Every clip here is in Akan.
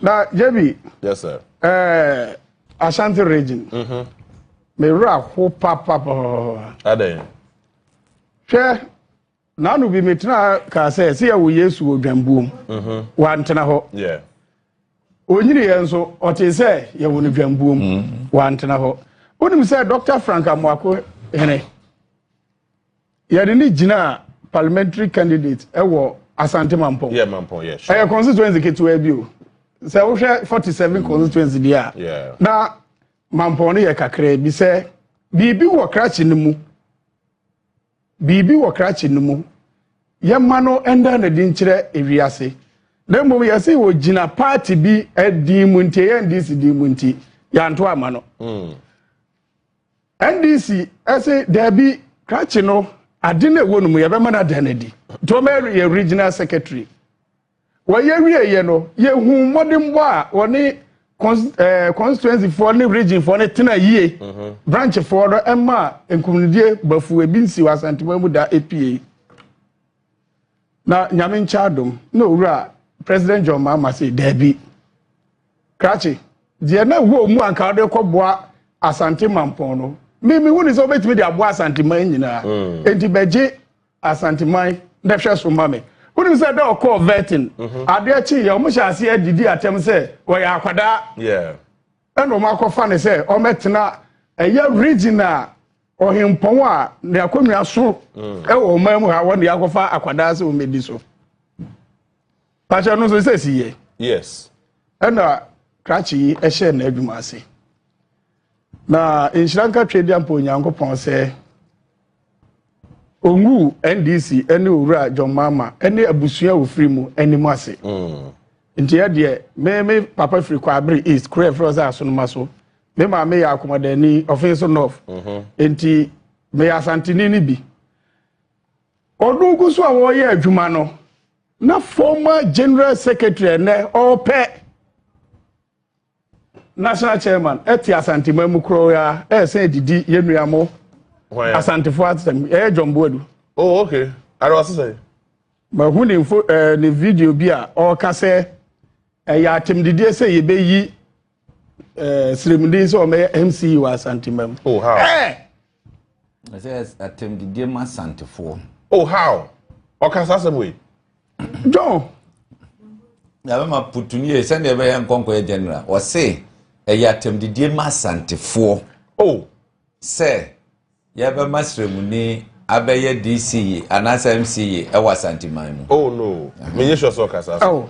na jebi yes sir eh ashanti region mhm me ra ho papa papa adai hwɛ Nano bi metena kaa sɛ sɛ yɛwɔ Yesu wɔ dwambuom mhm. wantena hɔ onyini yɛn nso ɔte sɛ yɛwɔ no dwambuom mhm. wantena hɔ wonim sɛ Dr. Frank Amoako hene yɛde ne gyinaa parliamentary candidate ɛwɔ Asante Mampɔn ɛyɛ constituency ketewa bi o sɛ wohwɛ 47 constituency deɛ a na Mampɔn no yɛ kakraa bi sɛ biribi wɔ krakye no mu Biribi wɔ krakye no mu. Yɛmma no nda no adi nkyerɛ ewiase. Na mmom yɛse ogyina paati bi din mu nti, ɛyɛ NDC din mu nti, yɛanto ama no. Mm. NDC ɛse daabi krakye no ade no ɛwɔ no mu yɛbɛma no ada no adi. Nti wɔma yɛ regional secretary. Wɔyɛ wieeɛ no, yɛhuu mmɔdenbɔ a wɔne constituencyfoɔ ne regionfoɔ no tena yie, mhm. branchfoɔ no ɛma nkumdie bafu ebi nsi wɔ asantuma mu da epie. Na nyame nkyɛ adom na owura President John Mahama sɛ daabi. Krakye, deɛ na ɛwɔ mu anka wode kɔboa asante mampɔn no, mimi hu ne sɛ wobɛtumi de aboa asante man nyinaa. Mm. Enti bɛgye Asanteman bɛhwɛ so ma me. Wonim sɛ dɛ ɔkɔɔ vetting, mhm. adeɛ kye yɛ, wɔn hyɛ aseɛ didi atɛm sɛ wɔyɛ akwadaa. Ɛna wɔn akɔfa ne sɛ wɔmɛtena ɛyɛ region a ɔhempɔn a ne akonnwa so mm. ɛwɔ ɔman mu ha wɔn de akɔfa akwadaa sɛ wɔmɛdi so. Pakyɛ no nso sɛ si yɛ. Yes. Ɛna krakye yi ɛhyɛ n'adwuma ase. Na nhyira nka Twɛdia mpo Onyankopɔn sɛ ongu NDC ɛne owura John Mama ɛne abusua a ofiri mu anim ase. Mm. Nti yɛ deɛ me me papa firi Kwabere East kuro ɛfrɛ sɛ Asonoma so. Me maame yɛ Akomadani ɔfin so North. Mhm. Nti meyɛ Asanteni no bi. Ɔno ngu so a wɔyɛ adwuma no. na former general secretary ɛnɛ ɔpɛ national chairman ɛte asanteman mu korɔ ya ɛsɛn didi yɛn nua mo asantefo atɛm ɛyɛ John Boadu. oh okay ara ɔsi sɛ. mahu ne nfo ɛɛ ne video bi a ɔka sɛ ɛyɛ atɛmdidie sɛ yɛbɛyi ɛɛ siremuden sɛ ɔmɛyɛ mce wɔ asantemam. oh how. ɛɛ. ɛsɛ atɛmdidie ma asantefoɔ. oh how ɔka saa sɛm wei. john. yabɛma putuni yɛ sɛdeɛ ɛbɛyɛ nkɔnkɔyɛ general ɔse ɛyɛ atɛmdidie ma asantefoɔ. oh. sɛ yɛbɛma siremuni abɛyɛ dc yi anaasɛ mce yi ɛwɔ asanteman mu. oh no menyɛ sure sɛ ɔka saa sɛm.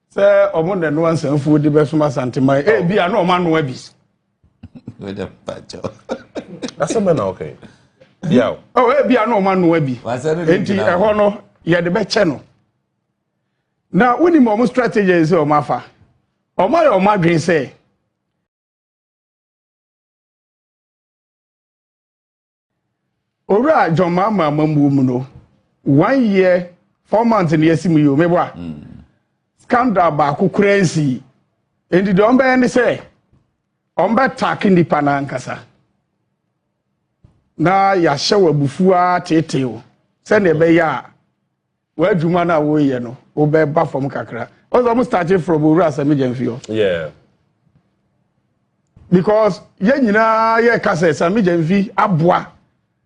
sɛ ɔmo na ɛnoa nsanfuo de bɛsom asanteman oh. ebi a na ɔmo anoa bi. wɛdɛ mpakyɛ. asɛm bɛ na ɔkɛ yi. yaw. ɔ ebi a na ɔmo anoa bi. nti ɛhɔ no yɛde bɛkyɛ no na wonim ɔmo strategy sɛ ɔmo afa ɔmo ayɛ ɔmo adwene sɛ. Owura John Mahama amammuo mu no, one year four months na yɛasi mu yi o, mebɔ a mm. scandal baako koraa nsii. Enti deɛ ɔmbɛyɛ ne sɛ ɔmbɛtaake nnipa no ankasa na yɛahyɛ wɔ abufuo ara teetee o sɛdeɛ ɛbɛyɛ a W'adwuma no a woreyɛ no wobɛba fam kakra ɔsɛ ɔmo starte from owura asɛm gya mfi hɔ because yɛn nyinaa yɛka sɛ same gya mfi aboa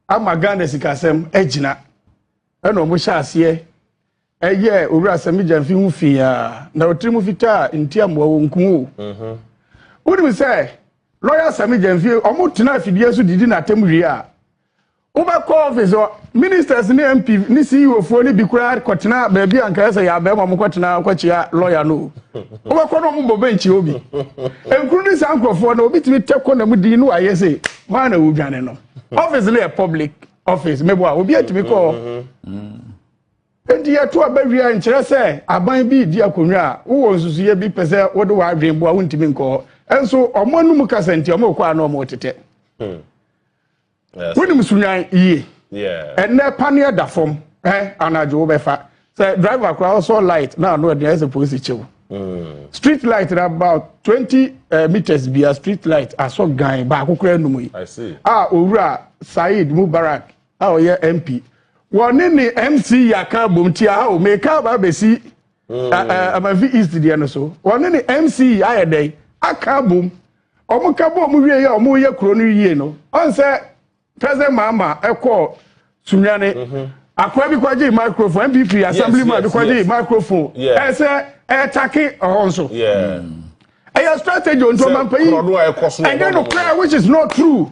ama ghana sikasɛm agyina ɛna ɔmo hyɛ aseɛ ɛyɛ owura same gya mfi ho fi a na ɔtiri mu fitaa nti amoa wɔ nkum o mhm. wonim sɛ lɔya same gya mfi ɔmo tena afidie so didi n'atam wie a Wobɛkɔ office hɔ, ministers ne MP ne CEO foɔ no bi koraa kɔtena baabi a nkaeɛ sɛ yɛ abɛɛma ɔmo kɔtena kɔkyea lɔya no wobɛkɔ no ɔmo bɔ bɛnkyi obi nkuru ne saa nkurɔfoɔ no obi tumi tɛ kɔ na mu din no ayɛ sɛ hwan na wodwane no office no yɛ public office mebo a obi atumi kɔ enti yɛto aba wie a nkyerɛ sɛ aban bi di akonnwa a wowɔ nsusuiɛ bi pɛ sɛ wode w'adwen boa wontumi nkɔ hɔ nso ɔmo anum kasa nti ɔmo kɔ a na ɔmo tetɛ wonim sunwan yie ɛnɛ paneɛ da fam ɛ anadwo wobɛfa sɛ driver koraa ɔsɔ light na ano aduan sɛ polisi kyew mm. street light na about twenty eh, meters bia street light asɔ gan baako koraa anum yi a owura saeed mubarak a ɔyɛ mp wɔne ne mc yaka bom tia ha o meka aba abɛsi amafi east deɛ no so wɔne ne mce ayɛ dɛn aka abom wɔn ka bɔ wɔn wie yɛ wɔn yɛ kuro no yie no ɔn sɛ president mahama ɛkɔ sunyane mhm. akora bi kɔgye microphone npp assembly man bi kɔgye microphone ɛsɛ ɛtake ɔhɔ nso ɛyɛ strategy ontɔmampanyin ɛnyɛ no kora which is not true.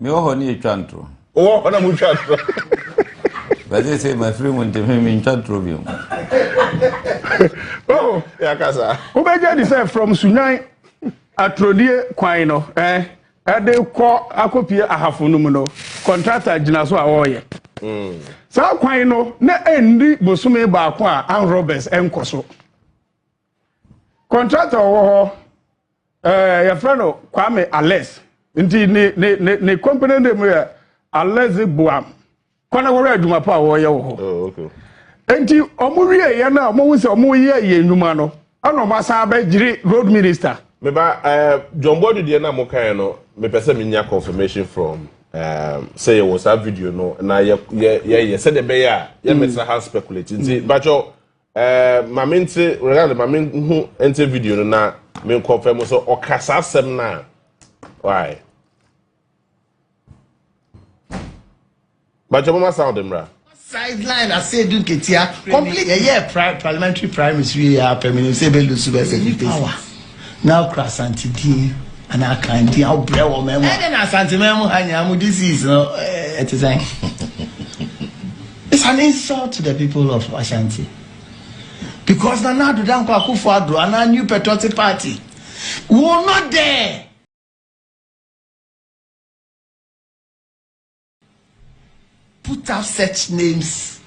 Me wɔ hɔ ne yɛtwa ntoro. Wowɔ hɔ na motwa ntoro. Bɛse sɛ mafiri mu nti me mentwa ntoro bio. Wahu yɛakasa. Wobɛgye adi sɛ from Sunyani aturodie kwan no eh, ɛde kɔ akɔpie Ahafo no mu no, kɔntrata gyina so a wɔreyɛ. Mm. Saa kwan no na ɛnni bosome baako a armed robbers nkɔ so. Contractor ɔwɔ hɔ, ɛɛ yɛfrɛ no Kwame Alex. Nti ne ne ne ne company name yɛ Alex Boam. Kɔ na wɔhwɛ adwuma pa a wɔyɛ wɔ hɔ. Oh, okay. Nti wɔn wie yɛ no a wɔn sɛ wɔn yɛ yɛ nnwuma no ɛna wɔn asan abɛgyere road minister. Meba ɛɛ eh, John Boadu deɛ na mo kan no mepɛ sɛ menya confirmation from ɛɛ eh, sɛ yɛwɔ saa video no na yɛ yɛ yɛ sɛdeɛ bɛyɛ a yɛ mɛtena ha speculate nti mm. bàtjɔ. Eh, ma me nte regard ma me nhu nte video no na me nkɔ fɛ mo so ɔka saa asɛm no a why bakyɛ moma sound mmra sideline ase edu nketia complete yɛyɛ pri parliamentary primaries wie yɛ apɛ menim sɛ ɛbɛlu so bɛsɛ fifty na okura asante din ana akan din a wobrɛ wɔ mɛmu ɛdɛ na asante mɛmu ha nyinaa mo disease no ɛte sɛn It's an insult to the people of Ashanti because Nana Addo Dankwa Akufo-Addo anaa New Patriotic Party will not dare put up such names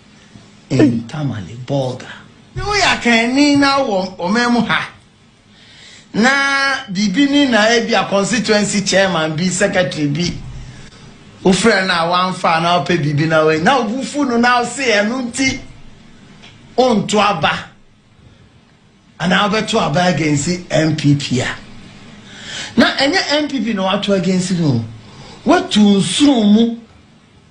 in Tamale, Bolga. Woyɛ akanni na wɔ ɔman mu ha. na biribi ni na ebi a constituency chairman bi secretary bi wofrɛ no a wamfa a na ɔpɛ biribi na wei na obu fu no na ɔse ɛno nti onto aba anaa wobɛto aba against npp a na ɛnyɛ npp na wato against no watu nsuo mu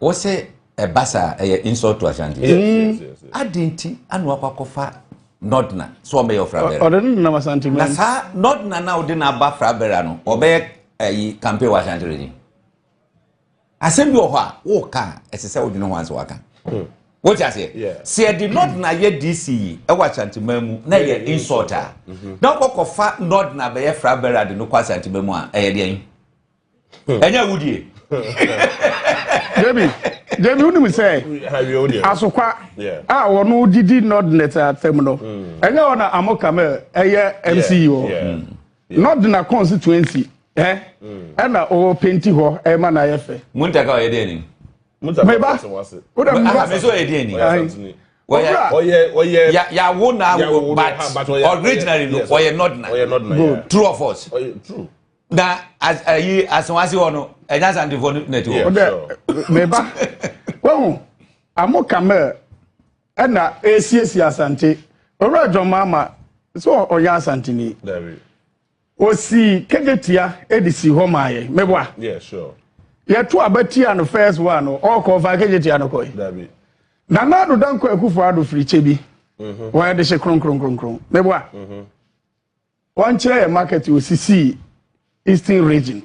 Wose ɛba saa ɛyɛ insult to Ashanti. Mm. Adi nti anu akɔ akɔfa Nordna so ɔbɛyɛ ɔfra bɛrɛ. Ɔde no nam Ashanti mɛ. Na saa Nordna na ɔde n'aba fra bɛrɛ no ɔbɛyɛ ɛyi campaign wɔ Ashanti region. Asɛm bi wɔ hɔ a wɔka a ɛsɛ sɛ wodwene ho ansa waka. Hmm. Wote aseɛ? Sɛ yɛde Nordna yɛ DC yi ɛwɔ Ashanti mɛ mu na yɛ insult a mm-hmm. na ɔkɔkɔfa Nordna bɛyɛ fra bɛrɛ ade no kɔ Ashanti mɛ mu a ɛyɛ deɛ yi. ɛnyɛ wo die debi debi wonim sɛ asokwa a wɔno didi nɔdnet atam no hmm. ɛnyɛ hɔ na amo kamel ɛyɛ mce hɔ nɔdna constituency ɛ hmm. ɛna ɔwɔ penti hɔ ɛma na ayɛ fɛ muntaka ɔyɛ deɛ ni meba wodɛ meba mɛsɛ ɔyɛ deɛ ni ɔyɛ ɔyɛ ɔyɛ yawo na but originally no ɔyɛ nɔdna true or false. na as ayi asenwase hɔ no ɛnya santefoɔ no na ti hɔ. ɔdɛ meba wahu amo kamel ɛna esiesie asante owura adwamma ama sɛ ɔyɛ asanteni osi kegetia edi si hɔ maa yɛ meboa yɛto aba tia no first one no ɔkɔ fa kegetia no kɔe na na adodankɔ akufo ado firi kyɛ bi wɔyɛ de hye kronkronkronkron meboa. Mm -hmm. Wɔn kyerɛ yɛ market wɔ sisi eastern region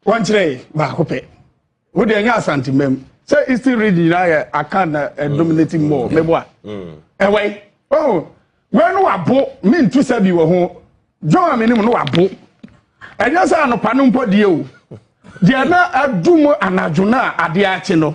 wɔn kyerɛ yɛ baako pɛ wo deɛ nyɛ asante mbɛm sɛ eastern region nyinaa yɛ akan na ɛdominate mu wɔ mɛbo a ɛwɔ yi ɔhun wɛn no wa bo mi ntu sɛ bi wɔ ho john aminim no wa bo ɛnyɛ sɛ anopa no mpɔ die o deɛ na adum anadwo na adeɛ akye no.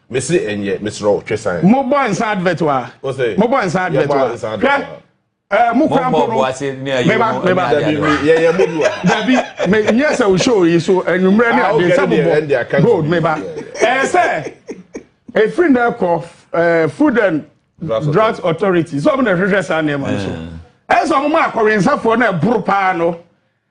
Me se ɛnyɛ mesrɛ wo twe san. Mo bɔ nsa advert wa. O se. Mo bɔ nsa advert wa. Yɛ bɔ nsa advert wa. Hwɛ ɛɛ mo kura mpo no. Meba meba. Yɛ yɛ mo bi wa. Dabi me n yɛ sɛ o show yi so enyimrɛ ne ade sɛ mo bɔ gold meba. Ɛɛ sɛ efiri na ɛkɔ ɛɛ food and drugs authority sɛ ɔmo na ɛhwehwɛ saa nneɛma no so. Ɛɛ sɛ ɔmo ma akɔwensafoɔ na ɛboro paa no.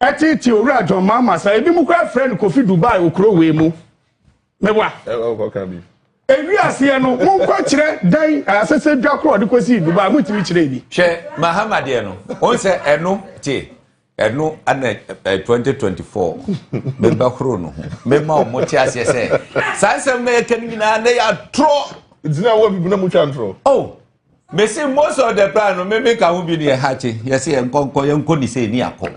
Ɛtete owura John Mahama sa ebi mu kura frɛ no Kofi Dubai okuro wei mu. Mewa. Ɛwɔ kɔ kan bi. Ewi aseɛ no mo nkɔ kyerɛ dan asese dwa koro ɔde kɔ si Dubai mo ntumi kyerɛ ebi. Hwɛ Mahama deɛ no wɔn sɛ ɛno te ɛno ana ɛ twenty twenty four meba horo no ho mema wɔn te aseɛ sɛ saa nsɛm na yɛka no nyinaa na yɛ atorɔ. Ntina wɔ bibi na mo twa ntorɔ. Oh mese most of the plan no meme ka ho bi ne ɛhakye yɛse yɛnkɔ nkɔ yɛnkɔ ne sɛ ni akɔ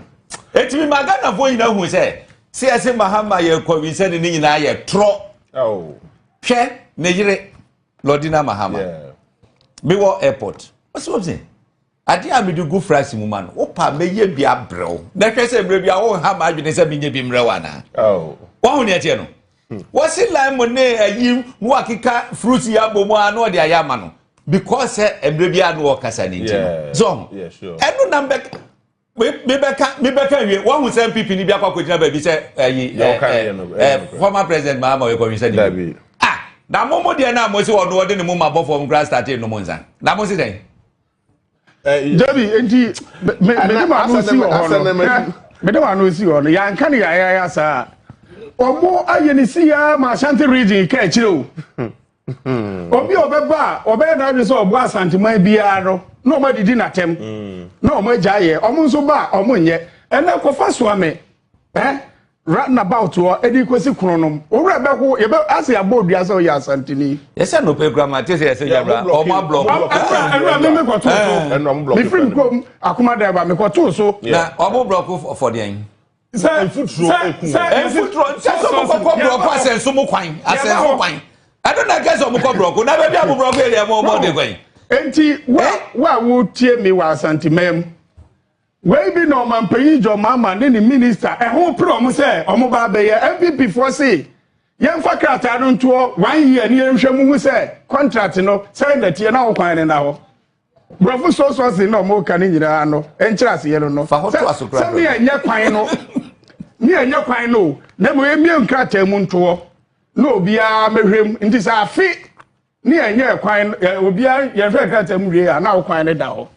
ɛtumi ma ghanafoɔ nyina hu sɛ sɛ yɛse mahama yɛkɔ wi sɛ ne ne nyinaa yɛ torɔ oh. hwɛ ne yere lɔdina mahama mewɔ airport ɔsɛ wɔ sɛ adeɛ a mede gu frase mu ma no wopa mɛyɛ bi abrɛw na hwɛ sɛ mmerɛ bi a wonha ma adwene sɛ menyɛ bi mmerɛw anaa oh. wahu neɛ teɛ no Wɔsi lime ne ayi mu akeka fruits yi abɔ mu a na ɔde ayɛ ama no because sɛ mmerɛ bi a na ɔkasa ne nti no. So ɛno na mbɛka mebɛka mebɛka wie wɔhu sɛ npp ni bi akɔ akɔgyina baabi sɛ ayi former president Mahama ɔyɛ kɔnwisa ne bi. Ah na mo mo deɛ no a mo se ɔno ɔde ne mo ma bɔ fam koraa starte nom nsa na mo se dɛn? dabi nti mede ma no si wɔ hɔ no mede ma no si wɔ no yɛanka ne yɛayɛayɛ saa ɔmo ayɛ ne si ya ma asante region ka akyire o hmm. obi a ɔbɛba a ɔbɛyɛ n'adwene sɛ ɔboa asanteman biara no na ɔmo adidi n'atɛm hmm. na ɔmo agya yɛ ɔmo nso ba a ɔmo nyɛ ɛnna kɔfa soa me eh roundabout hɔ ɛde kɔsi kono nom owurɛ bɛho yɛbɛ ase abɔ odua sɛ ɔyɛ asantini. yɛsɛ nnope kura ma te sɛ yɛsɛ yabra ɔmo ablɔk. ɛnura mi mi kɔtoo so mifiri mi kurom akomadan ba mi kɔtoo so. na ɔmo blɔk fɔdeɛn. sɛ nfuturo eku sɛ nfuturo sɛ sɛ ɔmo kɔkɔ blɔk asɛnso mo kwan asɛnso kwan ɛno na kɛse ɔmo kɔ blɔk na bɛbi ɔmo blɔk yɛ deɛ ɔmo ɔmo de kwan. nti wa wa wo tie mi wɔ asantemɛm. Wei bi na ɔmanpanyin John Mahama ne ne minista ɛho pere wɔn sɛ wɔn ba abɛyɛ. NPP foɔ se yɛmfa krataa no ntoɔ one year ne yɛnhwɛ mu hu sɛ contract no sɛn na ɛteɛ na ɔkwan no na hɔ. Borɔfo so sources na wɔn ka no nyinaa no nkyerɛ aseɛ no no. Fa ho to aso kura dɔ. Sɛ mi ɛnyɛ kwan no mi ɛnyɛ kwan no na mo emie nkrataa mu ntoɔ na obiara mɛhwɛ mu nti sɛ afe ne ɛnyɛ kwan obiara yɛnhwɛ nkrataa mu wie a na ɔkwan no da hɔ.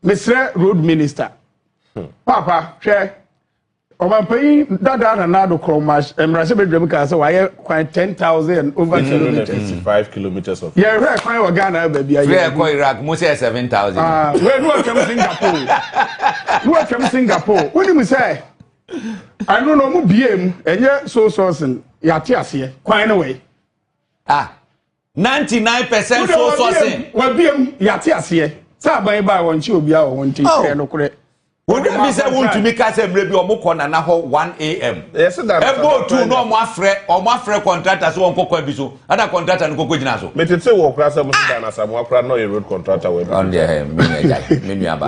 mesrɛ road minister hmm. papa hwɛ ɔmampanyin dada na nado kɔ mmarahyɛ badwam kaa sɛ wayɛ kwan ten thousand over mm. kilometres five kilometres of yɛn hwɛ kwan wɔ ghana baabi ayɛ fɛ ɛkɔ iraq mo sɛ seven thousand ah, wei ne wɔtwam singapore ne wɔtwam singapore wonim sɛ ɛno na ɔmo bie mu ɛnyɛ so sɔɔsen yɛate aseɛ kwan ne wei ah Ninety nine percent so so se. Wabiem yate aseɛ sɛ aban yi baa wɔn kye obiara wɔ wɔn nti oh. kyerɛ no korɛ. Wode bi sɛ wontumi ka sɛ mmerɛ bi ɔmo kɔ nana hɔ 1am. Ɛbɔ otu na ɔmo afrɛ ɔmo afrɛ kɔntrata sɛ wɔn kɔkɔ abi so ɛna kɔntrata no kɔkɔ gyina so. Metete wɔ kora sɛ mo si dan asamoa kora na ɔyɛ road kɔntrata wɔ ɛbi. Ɔno deɛ ɛhɛn mi na ɛgya mi nua ba.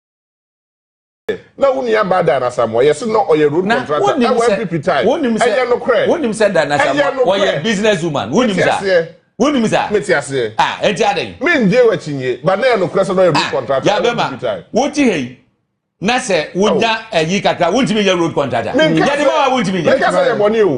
na wo nua baa dan asamoa yɛ se na ɔyɛ road contractor ɛwɔ npp time ɛyɛ no korɛ wonim sɛ dan asamoa ɔyɛ business woman wonim sa wonim sa mete aseɛ ah ɛnti adɛn me n gye wakyi nye ba na yɛ no korɛ sɛ na ɔyɛ road contractor ɛwɔ npp time wote hei na sɛ wonya ɛyi kakra wontumi nyɛ road contractor yɛde ma wa wontumi nyɛ mekasa yɛ bɔne o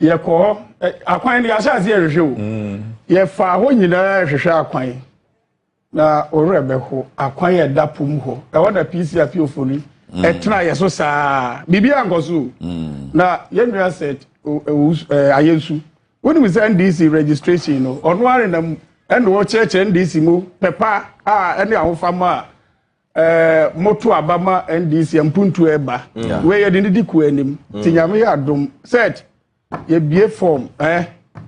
Yɛkɔ hɔ, akwan no yɛahyɛ ase ɛhwehwɛ o. Yɛfaa hɔ nyinaa ɛhwehwɛ akwan na ɔwerɛ bɛho akwan yɛ da po mu hɔ. Ɛhɔ na PC apiofo no ɛtena yɛ so saa. Biribi ankɔ so o. Na yɛn nua sɛ ayɛ nsu. Wonim sɛ NDC registration no ɔno ara na mu ɛna ɔkyerɛkyerɛ NDC mu pɛpa a ɛne ahofama a Eh, moto aba ma ndc mpuntu ɛba mm. wei yɛde ne di kuo anim mm. ti nyame yɛ adom sɛt yɛbie fɔm eh,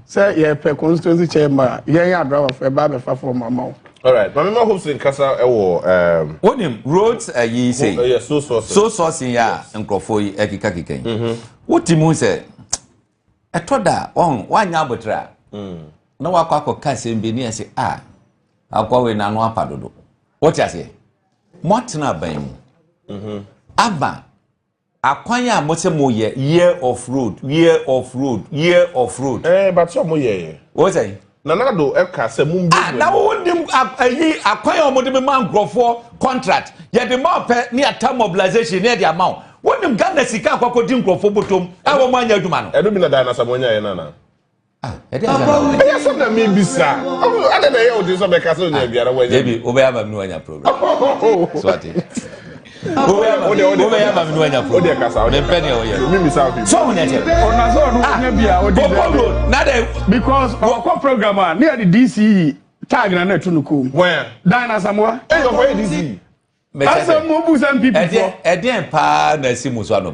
sɛ yɛpɛ constituency chairman a yɛn yɛ adrabafo ɛba abɛfa fɔm ama wo Alright, maame ma hopes nkasa ɛwɔ. Um, Wonim roads ayi sɛ. Oh, so sourcing. So sourcing ya nkurɔfoɔ yi ɛkeka keka yi. Wote mu sɛ Ɛtɔ da a, wɔn wanyɛ abotere a, na wakɔ akɔka asɛm bi ne ɛsɛ a akoa wei n'ano apa dodo. Wote aseɛ? Moatena aban mu. Mhm. Aba akwan a mosɛ moyɛ year of road, year of road, year of road. Eh, but sɛ ɔmo yɛɛ. Wosɛ? Nanado ka sɛ mo mbie mu. Na wo nim ayi akwan a wɔde mema nkurɔfoɔ contract yɛde ma ɔpɛ ne yɛata mobilization ne yɛde ama wo wo nim Ghana sika akɔkɔ di nkurɔfoɔ bɔtɔm a wɔn anyɛ adwuma no. Ɛno bi na Diana Samoanya yɛ no anaa? Ah, ɛde ayɛ na wɔn. Ɛyɛ sɛ na mi bi sa. Ɔmo ade na ɛyɛ ɔde sɛ bɛka sɛ ɔnya biara wɔanya. Ebi wobɛyɛ ama mi na wɔanya program. So ate. wobɛyɛ ama me nuanyafoɔ mempɛ deɛ woyɛ sɛ wo nɛtɛ bɔkɔbro na dɛ because wɔkɔ program a ne yɛde dce tag na na ɛto no kom dan no asamoa asɛm mu bu sɛ mpipifoɔ ɛdeɛn paa na asi mu so anɔ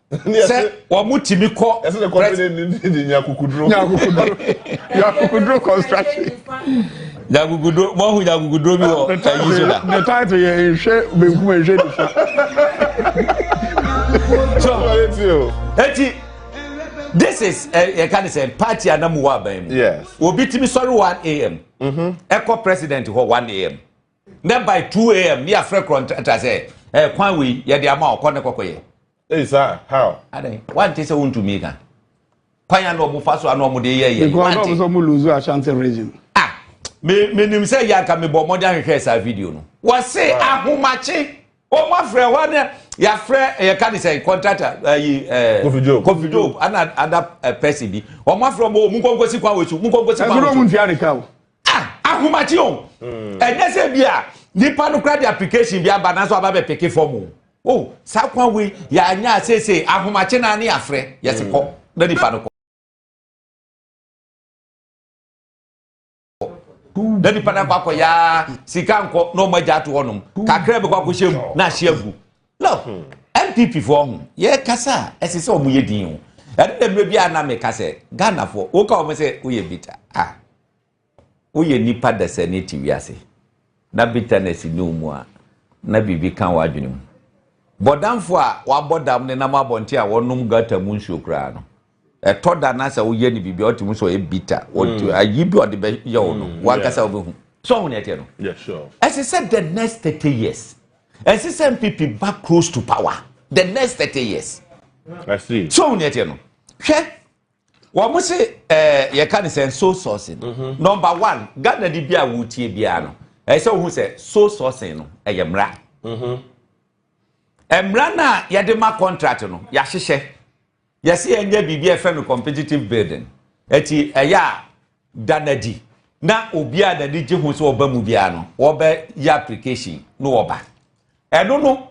sɛ wɔn ti mi kɔ. ɛsɛ ne kɔmpini ni ni ni nyakukuduro. nyakukuduro nyakukuduro construction. nyakukuduro mo ahu nyakukuduro bi wɔ ɛyi so da. ne taati yɛ nhwɛ benkum nhwɛ nifa. so eti this is yɛ eh, eh, ka ne sɛ party anamu wɔ aban mu. yes obi timi sɔre one am. ɛkɔ mm-hmm. president hɔ one am. Nɛ by 2 am ne yɛafrɛ korɔ ntratra sɛ eh, kwan wei yɛde ama ɔkɔ ne kɔkɔyɛ. Ei saa how? Adɛn wante sɛ wontumi ka kwan a na ɔmo fa so a na ɔmo de yɛ yɛ. Because ɔmo sɛ ɔmo lose Ashanti region. Ah me menim sɛ yɛ anka mebɔ mmɔden ahwehwɛ saa video no. Wɔse ahomakye wɔn afrɛ hɔ ne yɛafrɛ yɛka ne sɛ contractor ayi ɛɛ kofi job ana ada pɛsi bi wɔn afrɛ wɔn wɔn nkɔnkɔsi kwan wɔ su nkɔnkɔsi kwan wɔ su. ɛsɛ wɔn ntua ne ka o. Ah, ahomakye o. Mm. Ɛnyɛ sɛ bi a nipa no kura de application bi aba nanso aba bɛ peke fam o. Oh, saa kwan wei yɛanya seesei ahomakye na ne afrɛ yɛsi kɔ na nipa no kɔ. na nipa no akɔ akɔ yaa sika nkɔ na ɔmo agya ato hɔnom kakra bi kɔ akɔhyɛ mu na ahyɛ agu Look, NPP foɔ ho, yɛkasa a, ɛsɛ sɛ wɔn yɛ din o. Ɛno na mmerɛ biara na meka sɛ, Ghana foɔ, woka wɔn sɛ woyɛ bita a, woyɛ nipa dasani te wiase. Na bitterness ni wo mu a, na biribi ka wo adwene mu. Bɔdamfoɔ a wabɔ dam nenam abɔnten a wɔnom gutter mu nsuo koraa no, ɛtɔ da na sɛ woyɛ no biribi a ɔte mu sɛ ɔyɛ bitter ɔte mm. ayi bi ɔde bɛyɛ wo no mm, wankasa wobɛhu sɛ ɔho ne ɛteɛ no ɛsɛ sɛ the next thirty years ɛsɛ sɛ mpp ba close to power the next thirty years sɛ ɔho ne ɛteɛ no hwɛ wɔn se ɛɛ yɛka ne sɛ soul sourcing mm-hmm. number one ghana ni bi a wotie biara no ɛsɛ wohu sɛ soul sourcing no ɛyɛ mmara mmara no a yɛde ma contract no yɛahyehyɛ Yɛse yɛnyɛ biribi a yɛfrɛ no competitive building. Ɛti ɛyɛ a da no adi na obi a n'ani gye ho sɛ ɔba mu biara no wɔbɛyɛ application na wɔba. Ɛno no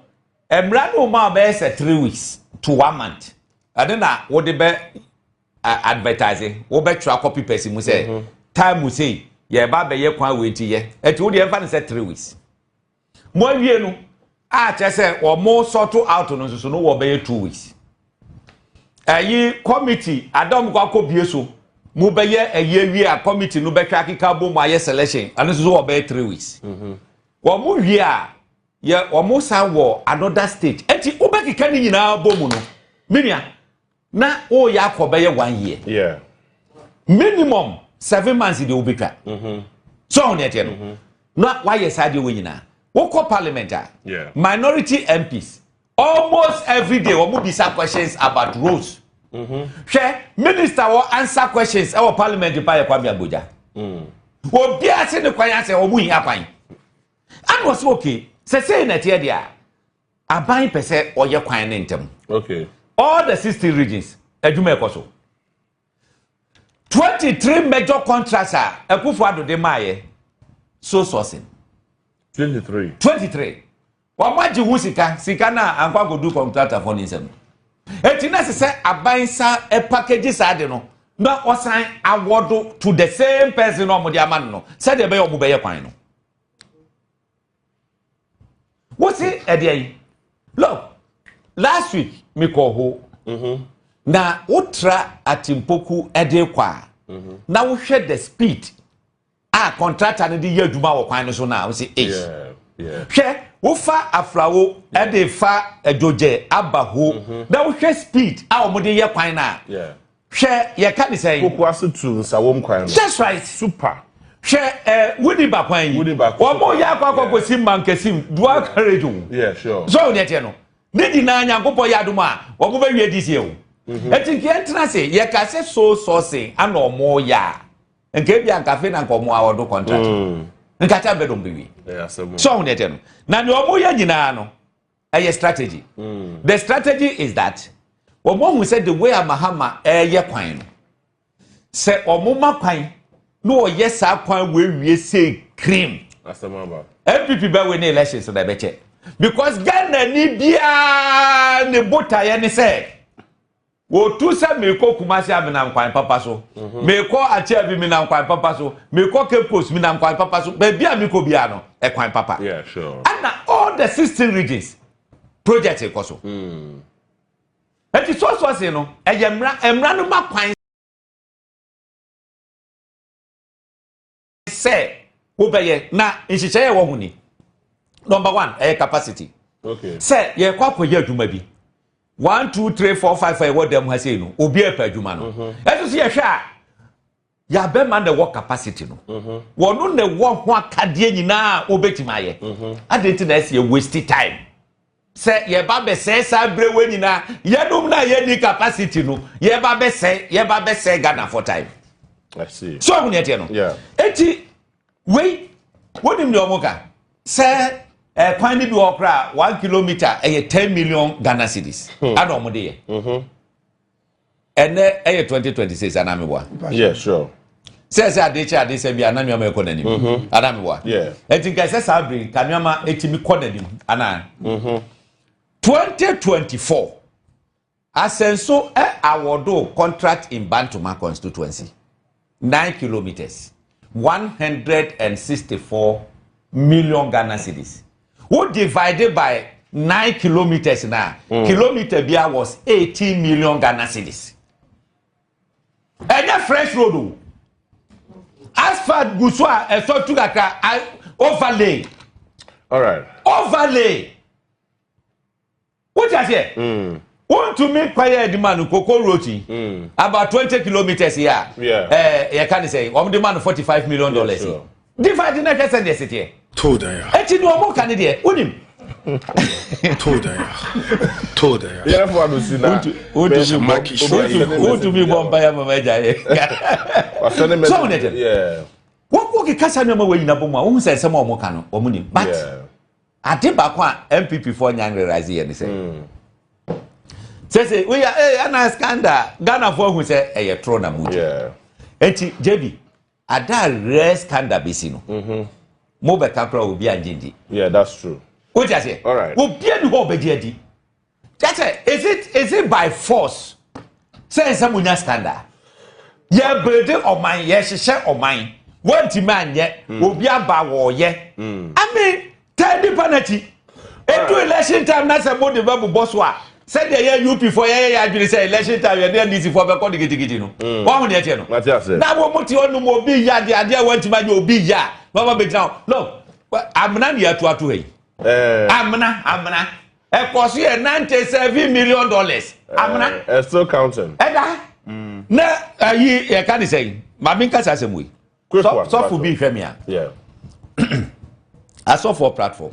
mmara no ma ɔbɛyɛ sɛ three weeks to one month. Ɛno na wode bɛ advertise, wobɛtwerɛ akɔpi pɛsi mu sɛ mhm. time sei yɛba bɛyɛ kwan wei nti yɛ. Ɛti wodeɛ ɛmfa no sɛ three weeks. Moawie no a kyerɛ sɛ wɔn sort out no nso no wɔ bɛyɛ two weeks. Ɛyi committee adam kɔ akɔ bie so mo bɛyɛ ɛyi awie a committee no bɛhwɛ akeka bom ayɛ selection ɛno nso so wɔ bɛyɛ three weeks. Mhm. Wɔn mo wie a yɛ wɔn san wɔ another stage ɛti wobɛkeka ne nyinaa bom no menua. na woyɛ akɔ bɛyɛ one year yeah. minimum seven months deɛ wobɛtwa mm -hmm. so ɔho deɛ teɛ no mm -hmm. na woayɛ saa deɛ wɔ nyinaa wokɔ parliament a yeah. minority mps almost every day wɔn bisa questions about roads mm -hmm. hwɛ minister wɔ answer questions ɛwɔ parliament pa yɛ kwame agbogya mm. obiara se ne kwan asɛ wɔn hia kwan ɛna ɔsɛ okay sɛ sɛyi na ɛteɛ deɛ a Aban pɛ sɛ ɔyɛ kwan no ntɛm. Okay. All the 16 regions, adwuma ɛkɔ so. 23 major contracts a Akufo Addo de maayɛ, so sourcing. 23. 23. Wɔn agye ho sika, sika no a ankɔ ankɔdu kɔntraktafo ne nsam. Eti na ɛsɛ sɛ aban sa package saa de no na ɔsan awɔdo to the same person na wɔde ama no no sɛdeɛ ɛbɛyɛ wɔn bɛyɛ kwan no. wosi ɛdi ayi look last week mi kɔ ho mm-hmm. na wotra atimpoku ɛde kɔ a mm-hmm. na wohwɛ the speed a contractor no de yɛ adwuma wɔ kwan no so na wosi eish hwɛ wofa aflawo ɛde fa adwogyɛ aba ho mm-hmm. na wohwɛ speed a wɔn de yɛ kwan na. Yeah. Hwɛ, yɛka ne sɛn? Kokoa so tu nsa wɔm kwan no. That's right. Super. Hwɛ ɛ wuni ba kwan yi. Wuni ba. Wɔn mo yɛ akɔ akɔ kɔ si mankasim dua courage o. Yeah sure. Sọ wò ni ɛteɛ no. Ne nyinaa nyankopɔ yɛ adum a wɔn bɛ wie this year o. Mm-hmm. Eti nkeɛ ntena se yɛ ka se so sɔɔse ana ɔmo yɛ a nka ebi ankafe na nka ɔmo awɔdo contract. Mm. Nka kyɛ bɛ dɔm bɛ wie. Sọ wò ni ɛteɛ no. Na ni ɔmo yɛ nyinaa no. ɛyɛ strategy mm. the strategy is that wɔn ahu sɛ the way a mahama ɛyɛ kwan no sɛ wɔn ma kwan na wɔyɛ saa kwan wɔawie sɛ cream npp bɛwe ne elections na ɛbɛkyɛ because ghana ni biara ne botaeɛ ne sɛ Wɔtu sɛ merekɔ Kumasi a menam kwan papa so. Merekɔ Akyea bi menam kwan papa so. Merekɔ Cape Coast menam kwan papa so. Baabi a mekɔ biara no, ɛkwan papa. Ɛna all the sixteen regions project rekɔ so. Eti sɔsɔse no, ɛyɛ mmara, mmara no ma kwan. sɛ wobɛyɛ na nhyehyɛeɛ ɛwɔ ho ni number one ɛyɛ capacity okay. sɛ yɛkɔ akɔyɛ adwuma bi one two three four five five ɛwɔ dɛm ha sei no obi ɛpɛ adwuma no mhm. ɛso so yɛhwɛ a yɛabɛma na ɛwɔ capacity no mhm. wɔno na ɛwɔ ho akadeɛ nyinaa wobɛtumi ayɛ mhm. adɛn nti na ɛsɛ yɛ waste time Sɛ yɛba bɛsɛe saa berɛ wei nyinaa yɛnom na yɛni capacity no yɛba bɛsɛe yɛba bɛsɛe Ghana for time. So ahu nea ɛteɛ no. Eti wei wonim deɛ wɔn ka sɛ eh, kwan no bi wɔ koraa one kilometer ɛyɛ ten million Ghana cedis hmm. ana wɔn de yɛ. Mm-hmm. ɛnɛ ɛyɛ twenty twenty six anaa mi wa. yeah sure. sɛ sɛ ade kyɛ ade sɛ bi ana nneɛma ɛkɔ n'anim mm-hmm. ana mi wa. yeah ɛti nka ɛsɛ saa bere nka nneɛma ɛtumi kɔ n'anim ana. Mm-hmm. twenty twenty four asɛnso ɛ awɔdo contract in bantoma constituency. Nine kilometres, one hundred and sixty four million Ghana cedis. Wo divide by nine kilometres na mm. kilometer bia was eighteen million Ghana cedis. Ɛnyɛ French road o. Asphalt gu so a ɛsɔ tu kakra overlay. All right. Overlay. Wote aseɛ? Wontumi nkɔyɛ adwuma no koko road yi about twenty kilometres yi a yɛka ne sɛ wɔn de ma no forty five million dollars yi divide na hwɛ sɛ deɛ seteɛ. Eti deɛ wɔn ka ne deɛ wonim. yɛrɛfo adosi na wontumi bɔ mpa yɛ mama agya yɛ sɛ wo ne tɛm wɔkɔ kekasa nneɛma wɔ nyina bɔ mu a wohu sɛ nsɛm a wɔn ka no wɔn nim but Ade baako a NPP foɔ nya nreraize yɛ ne sɛ sese woyɛ ee ana skanda Ghana foɔ hu sɛ ɛyɛ toro na mu gye eti JB ada rɛ skanda besi no mm-hmm. mo bɛka kora obi angye ndi. Yeah, that's true. Wotia seɛ? Alright. Obi ani hɔ ɔbɛgye adi. kyɛ sɛ is it is it by force sɛ nsɛ mo nya standard yɛbrede ɔman yɛhyehyɛ ɔman wɔntumi anyɛ hmm. obi aba wɔɔyɛ hmm. i mean tɛn nipa n'akyi edu election time na sɛ mo de bɛ bobɔ so a sɛdeɛ yɛ up fɔ yɛyɛ yɛ adwene sɛ election time yɛde ndc fɔ bɛkɔ de gidigidi no hmm. wɔn ho deɛ tiɛ no na wɔn mo te hɔ nom obi yɛ adeɛ adeɛ a wɔntumi anyɛ obi yɛ a wɔn ma bɛ gyina hɔ look amena ne yɛ atuatu ha yi eh. amena amena. ɛkɔ so yɛ ninety seven million dollars amena. ɛ ɛ still counting. ɛda mm. na ayi ɛka ne sɛn maame nkasa asɛm wei sɔfo bi hwɛ me a asɔfo platform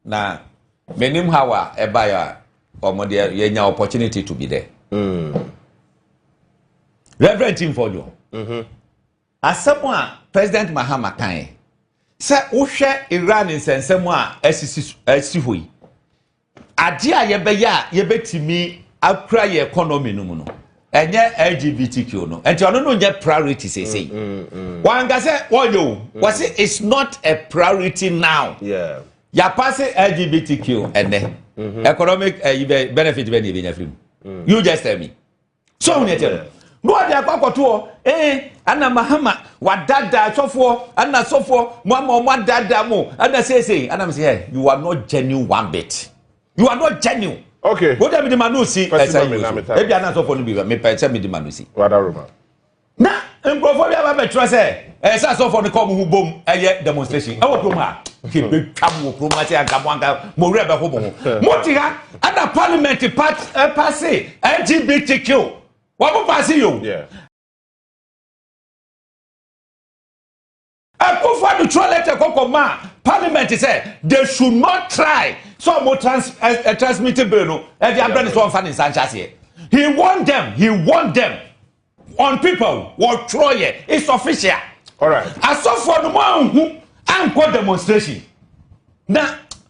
na menim how a ɛbaeɛ a wɔn deɛ yɛnya opportunity to be there mm. reverend tim fɔdwo mm-hmm. Asɛm a President Mahama kae sɛ wohwɛ Iran nsɛnsɛm a asisi asi hɔ yi, adeɛ a yɛbɛyɛ a yɛbɛtumi akura yɛ economy no mu no, ɛnyɛ LGBTQ no. Nti ɔno no nyɛ priority seesei. Mm, mm, mm. Wanka sɛ wɔyɛ o. Mm. Wɔse it's not a priority now. Yeah. Yɛapa se LGBTQ ɛnɛ. Mm -hmm. Economic uh, benefit bɛ ne yɛbɛnya firi mu. Mm. You just tell me. so ahu nea ɛteɛ no na wɔde akɔ akɔtoɔ ee ɛna mahama wadaadaa sɔfoɔ ɛna sɔfoɔ mo ama wɔn adaadaa mo ɛna seesei ɛna mo sɛ hey you are not genuine one bit you are not genuine. okay wọ́n dẹ́ mi di ma n'o si ẹ̀sẹ̀ yìí o ebi aná sọ̀fọ̀ níbi mi pẹ̀ ẹ̀sẹ̀ mi di ma n'o si. na nkurɔfoɔ bi aba bɛtwerɛ sɛ ɛyɛ sɛ asɔfoɔ no kɔ mo ho bom ɛyɛ demonstration ɛwɔ kurom ha hwɛ bɛtwa mo wɔ kurom ha sɛ anka mo anka mo werɛ bɛho mo ho mote ha ɛna parliament pase lgbtq wɔn mo pase yo Akufo Addo twerɛ lɛtɛ kɔkɔ maa parliament sɛ they should not try sɛ ɔmo trans eh, eh, transmit bill no ɛde eh, abrɛ ne sɛ ɔmfa ne nsa nhyɛ aseɛ he warned them he warned them on people wɔtwerɛ yɛ it's official asɔfoɔ no mo anhu ankɔ demonstration na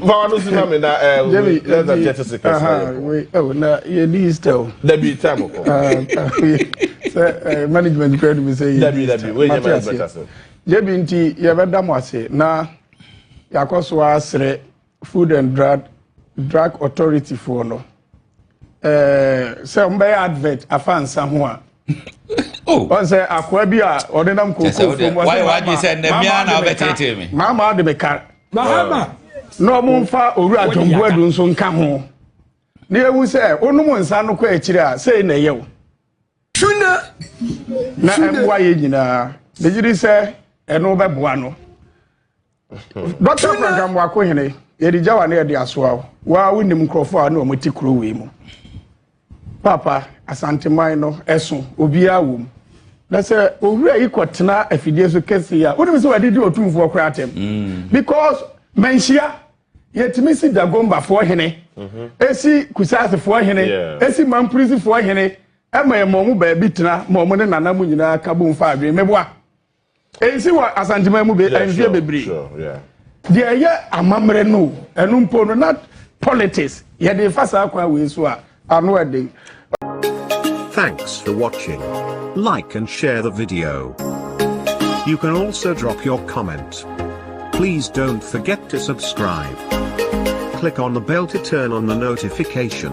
Bawa no si na mi na ẹ ẹ wei less than thirty seconds na yẹ kọ. Ẹ wò na yẹ di easter o. Dabi time kọ. Sẹ management kura ni mi sẹ yẹ di easter. Dabi dabi wei yẹ management ase. Jebi nti yẹ bẹ da mo ase na yakọ so asrẹ food and drug drug authority foɔ no. ɛɛ sɛ wɔn bɛyɛ advert afa nsa ho a. Oh. wọn sɛ akoa bi a ɔde nam koko fam wɔn sɛ maama adi mi ka maama na wɔn nfa owura adwombo adu nso nka ho na ewu sɛ onum nsa no kɔ akyire a sɛ na ɛyɛ o. tuna na ɛboa yɛ nyinaa ne yiri sɛ ɛno bɛboa no. dɔkta franka mmoako hene yɛde gyawa ne yɛde asoa wo waa wonim nkurɔfoɔ a ne wɔn te kuro wei mu papa asanteman no ɛso obiara wɔ mu na sɛ owura yi kɔtena afidie so kɛse yi a wonim sɛ wɔde di otumfoɔ koraa atɛm mm. because manhyia yɛtumi si dagombafoɔ hene ɛsi mhm. kusasefoɔ hene ɛsi mampurisifoɔ hene ɛma ɛma ɔmo baabi tena ma ɔmo ne nana mu nyinaa ka bo mfa adwene mɛboa ɛnsi wɔ asanteman mu be mfeɛ bebree deɛ ɛyɛ amammerɛ no ɛno mpo no na politics yɛde fa saa kwan wei so a ano ɛden Thanks for watching. Like and share the video. You can also drop your comment. Please don't forget to subscribe. Click on the bell to turn on the notification.